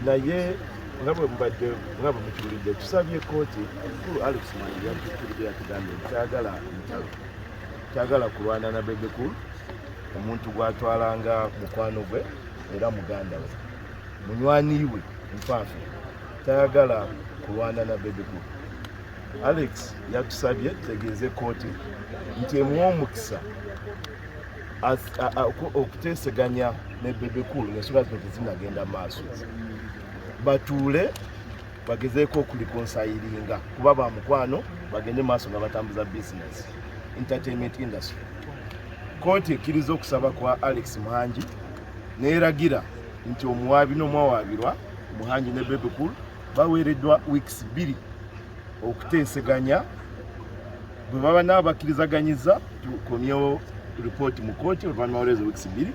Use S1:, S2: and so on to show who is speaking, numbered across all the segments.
S1: naye nga bwe mubadde nga bwe mukiwulidde tusabye kooti omukulu alex mani yatukiride yatugambye nti kyagala ntalo kyagala kulwana na bebekulu omuntu gwatwalanga mukwano gwe era muganda we munywanyi we nfaafa tayagala kulwana na bebekulu alex yatusabye tutegeeze kooti nti emuwa omukisa okuteeseganya ne Bebe Cool ng'ensonga zino tezinagenda maaso batuule bagezeeko okulikonsayiringa kuba ba mukwano bagende maaso nga batambuza bizinesi entertainment industry kooti ekkiriza okusaba kwa alex muhangi neeragira nti omuwaabi n'omwawaabirwa muhangi ne Bebe Cool baweereddwa wiikisi bbiri okuteeseganya bwe baba nabo bakkirizaganyizza tukomyewo ripooti mu kooti oluvannyuma walwezo wiikisi bbiri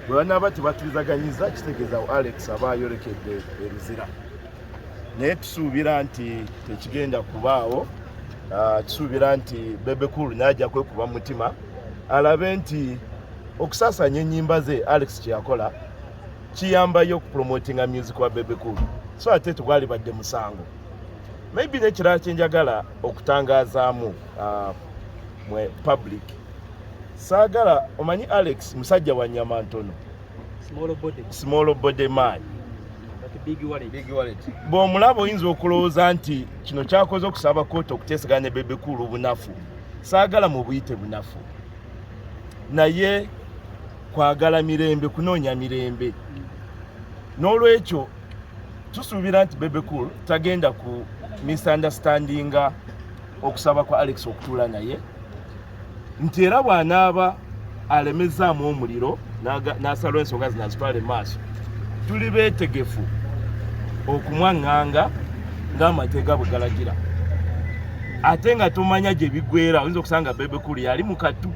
S1: bwe banaaba tebakkirizaganyiza kitegeeza alex aba ayolekedde eruzira naye tusuubira nti tekigenda kubaawo ah, kisuubira nti bebekul naja kwekuba mutima alabe nti okusasanya enyimba ze alex kyeyakola kiyambayo okupromotinga music wa bebekul so ate tegwalibadde musango maybe nekirala kyenjagala okutangazaamu uh, mwe public saagala omanyi alex musajja wa nyama ntono small body man bw'omulaba oyinza okulowooza nti kino kyakoze okusaba kooti okuteeseganya ne bebekuulu obunafu saagala mu buyite bunafu naye kwagala mirembe kunoonya mirembe n'olwekyo tusuubira nti bebe cool tagenda ku misunderstandinga okusaba kwa alex okutuula naye nti era bw'anaaba alemezzaamu omuliro n'asalwa ensonga zino azitwala emaaso tuli beetegefu okumwaŋŋanga ng'amateega bwe galagira ate nga tomanya gye bigwera oyinza okusanga bebe cool yali mu katu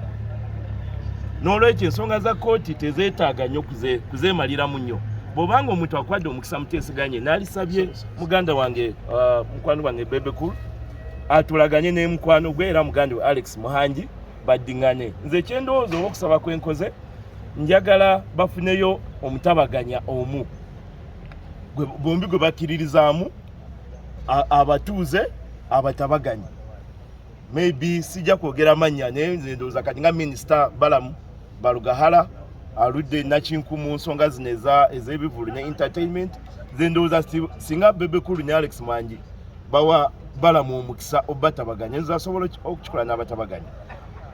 S1: n'olwekyo ensonga za kkooti tezeetaaga nnyo kuzeemaliramu nnyo bw'oba nga omuntu akwadde omukisa muteeseganye n'alisabye muganda wange uh, mukwano wange bebekulu atulaganye ne mukwano gwe era muganda we alex muhangi baddingane nze ekyendowooza oba okusaba kwenkoze njagala bafuneyo omutabaganya omu bombi gwe bakkiririzaamu abatuuze abatabaganya maybe sijja kwogera mannya naye nze ndowooza kati nga minisita balamu balugahala aludde nakinku mu nsonga zino ez'ebivulu ne entertainment nze ndowooza singa bebekulu ne alex mwangi bawa balamu omukisa obatabaganya nze asobola okukikola n'abatabaganya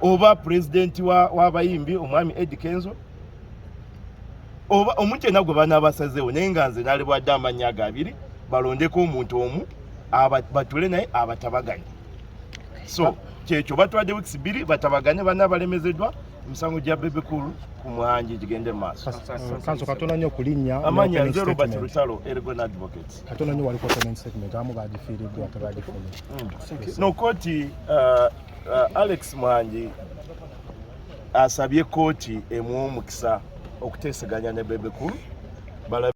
S1: oba pulezidenti w'abayimbi wa omwami edi kenzo oba omuntu yenna gwe banaabasazeewo naye nga nze nalibwadde amannya ago abiri balondeko omuntu omu batule naye abatabaganya so kyekyo batwadde weeks bbiri batabaganye banna balemezeddwa emisango gya bebe cool ku mwanji gigende mu maaso kanso katona nnyo
S2: kulinnya amanya nze robert
S1: lutalo ergon advocate katona nnyo waliko opening
S2: statement amu bagifiiriddwa tebagifunye mm. no
S1: kooti uh, uh, alex mwanji asabye kooti emuwa omukisa okuteeseganya ne bebe cool